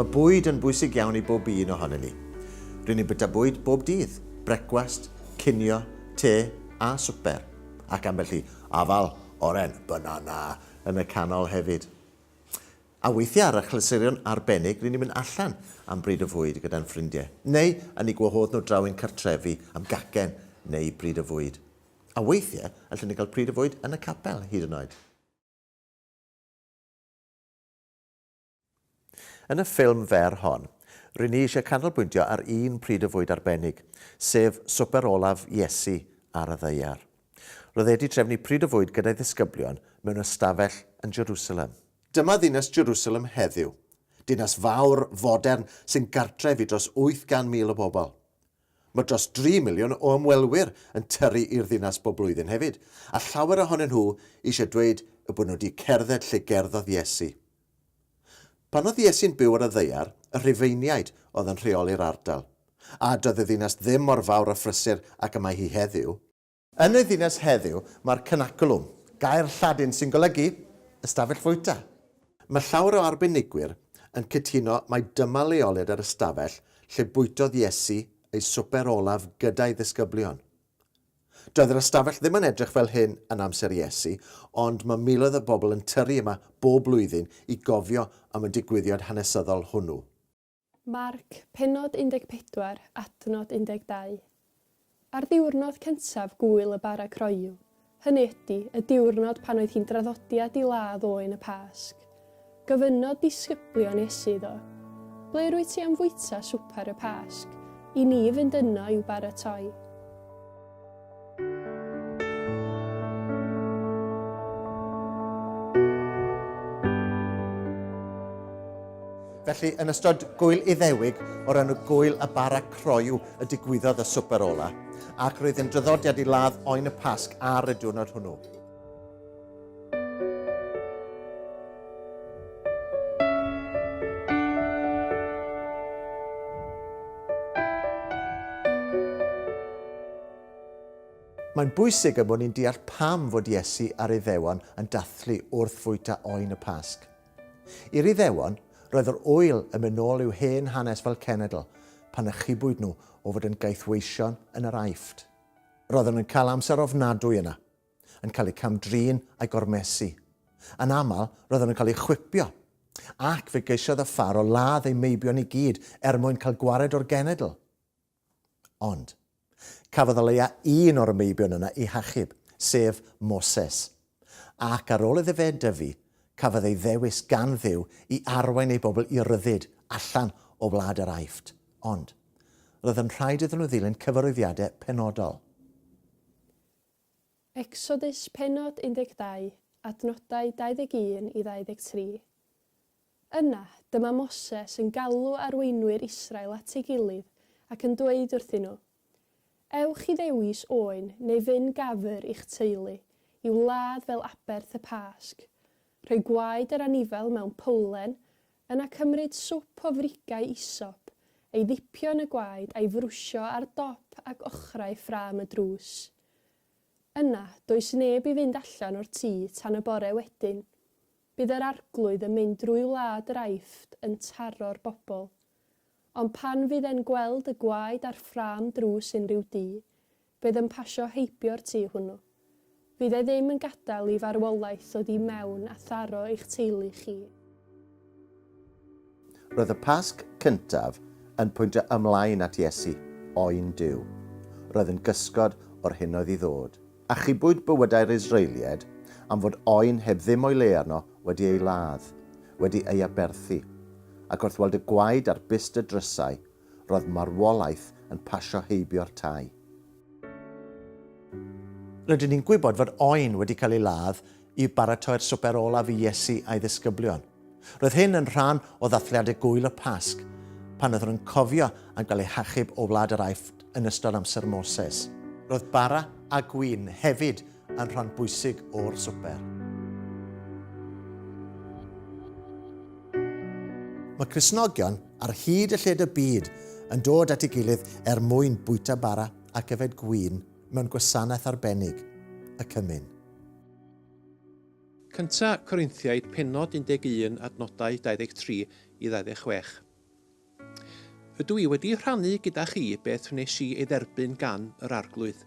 Mae bwyd yn bwysig iawn i bob un ohonyn ni. Rydyn ni'n byta bwyd bob dydd, brecwast, cinio, te a swper, ac ambell i afal, oren, banana yn y canol hefyd. A weithiau ar achlysurion arbennig ry'n ni'n mynd allan am bryd o fwyd gyda'n ffrindiau, neu yn eu gwahodd nhw draw i'n cartrefi am gacen neu bryd o fwyd. A weithiau allwn ni gael pryd o fwyd yn y capel hyd yn oed. Yn y ffilm fer hon, ry'n ni eisiau canolbwyntio ar un pryd o fwyd arbennig, sef swper olaf Iesu ar y ddaear. Roedd e wedi trefnu pryd o fwyd gyda'i ddisgyblion mewn ystafell yn Jerusalem. Dyma ddinas Jerusalem heddiw, dinas fawr, fodern, sy'n gartref i dros 800,000 o bobl. Mae dros dri miliwn o ymwelwyr yn tyrru i'r ddinas bob blwyddyn hefyd, a llawer ohonyn nhw eisiau dweud eu bod nhw wedi cerdded lle gerddodd Iesu. Pan oedd Iesu'n byw ar y ddaear, y Rhufeiniaid oedd yn rheoli'r ardal, a doedd y ddinas ddim mor fawr a phrysur ag y mae hi heddiw. Yn y ddinas heddiw mae'r cynaculum, gair Lladin sy'n golygu ystafell fwyta. Mae llawer o arbenigwyr yn cytuno mai dyma leoliad yr ystafell lle bwytodd Iesu ei swper olaf gyda'i ddisgyblion. Doedd yr ystafell ddim yn edrych fel hyn yn amser Iesu, ond mae miloedd o bobl yn tyrru yma bob blwyddyn i gofio am y digwyddiad hanesyddol hwnnw. Marc, pennod 14, adnod 12. Ar ddiwrnod cyntaf gŵyl y bara croyw, hynny ydy, y diwrnod pan oedd hi'n draddodiad i ladd oen y Pasg, gofynnodd disgyblion Iesu iddo, Ble rwyt ti am fwyta swper y Pasg, i ni fynd yno i'w baratoi? Felly, yn ystod gwyl iddewig o'r enw Gwyl y Bara Croyw y digwyddodd y swper ola, ac roedd yn draddodiad i ladd oen y Pasg ar y diwrnod hwnnw. Mae'n bwysig y bod ni'n deall pam fod Iesu a'r Iddewon yn dathlu wrth fwyta oen y Pasg. I'r Iddewon, roedd yr ŵyl yn mynd nôl i'w hen hanes fel cenedl, pan achubwyd nhw o fod yn gaethweision yn yr Aifft. Roedden nhw'n cael amser ofnadwy yna, yn cael eu cam-drin a'u gormesu. Yn aml, roeddwn yn cael ei chwipio, ac fe geisiodd y Pharo ladd ei meibion i gyd er mwyn cael gwared o'r genedl. Ond, cafodd o leia un o'r meibion yna ei hachub, sef Moses. Ac ar ôl iddo fe dyfu, cafodd ei ddewis gan Dduw i arwain ei bobl i ryddid allan o wlad yr Aifft. Ond, roedd yn rhaid iddyn nhw ddilyn cyfarwyddiadau penodol. Ecsodus pennod 12, adnodau 21 i 23. Yna, dyma Moses yn galw arweinwyr Israel at ei gilydd ac yn dweud wrthyn nhw, Ewch i ddewis oen neu fyn gafr i'ch teulu i'w ladd fel aberth y Pasg. Rhoi gwaed yr anifail mewn powlen Yna cymryd swp o frigau isop, ei ddipio yn y gwaed a'i frwsio ar dop ac ochrau ffrâm y drws. Yna, does neb i fynd allan o'r tŷ tan y bore wedyn. Bydd yr Arglwydd yn mynd drwy wlad yr Aifft yn taro'r bobl. Ond pan fydd e'n gweld y gwaed a'r ffrâm drws unrhyw dŷ, Bydd yn pasio heibio'r tŷ hwnnw. Fydd e ddim yn gadael i farwolaeth ddod i mewn a tharo eich teulu chi. Roedd y Pasg cyntaf yn pwyntio ymlaen at Iesu, oen Duw. Roedd yn gysgod o'r hyn oedd i ddod. Achubwyd bywydau'r Israelied am fod oen heb ddim o'i le arno wedi ei ladd, wedi ei aberthu. Ac wrth weld y gwaed a'r bust y drysau, roedd marwolaeth yn pasio heibio'r tai. Rydyn ni'n gwybod fod oen wedi cael ei ladd i baratoi'r swper olaf i Iesu a'i ddisgyblion. Roedd hyn yn rhan o ddathliadau gŵyl y Pasg, pan oeddwn yn cofio am gael eu hachub o wlad yr Aifft yn ystod amser Moses. Roedd bara a gwin hefyd yn rhan bwysig o'r swper. Mae Crisnogion ar hyd y lled y byd yn dod at ei gilydd er mwyn bwyta bara ac yfed gwin mewn gwasanaeth arbennig, y cymyn. Cynta Corinthiaid penod 11 adnodau 23 i 26. Rydw i wedi rhannu gyda chi beth wnes i ei dderbyn gan yr Arglwydd.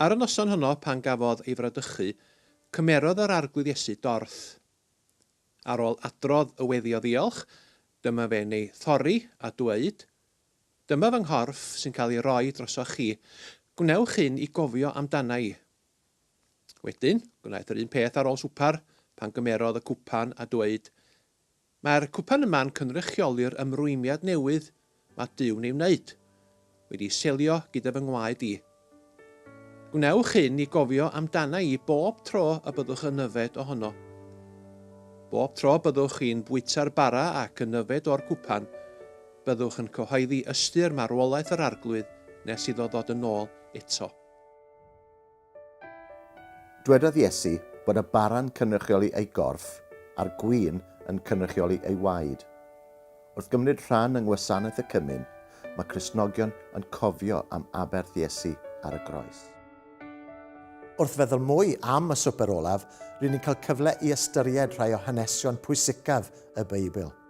Ar y noson honno pan gafodd ei fradychu, cymerodd yr Arglwydd Iesu dorth. Ar ôl adrodd y weddi o ddiolch, dyma fe'n ei thorri a dweud, Dyma fy nghorff sy'n cael ei roi drosoch chi, gwnewch hyn i gofio amdana i. Wedyn, gwnaeth yr un peth ar ôl swper, pan gymerodd y cwpan a dweud, Mae'r cwpan yma'n cynrychioli'r ymrwymiad newydd mae Duw'n ei wneud, wedi selio gyda fy ngwaed i. Gwnewch hyn i gofio amdana i bob tro y byddwch yn yfed ohono. Bob tro byddwch chi'n bwyta'r bara ac yn yfed o'r cwpan, byddwch yn cyhoeddi ystyr marwolaeth yr Arglwydd nes iddo ddod yn ôl eto. Dwedodd Iesu bod y bara'n cynrychioli ei gorff a'r gwin yn cynrychioli ei waed. Wrth gymryd rhan yng Ngwasanaeth y Cymun, mae Cristnogion yn cofio am aberth Iesu ar y groes. Wrth feddwl mwy am y Swper Olaf, ry'n ni'n cael cyfle i ystyried rhai o hanesion pwysicaf y Beibl.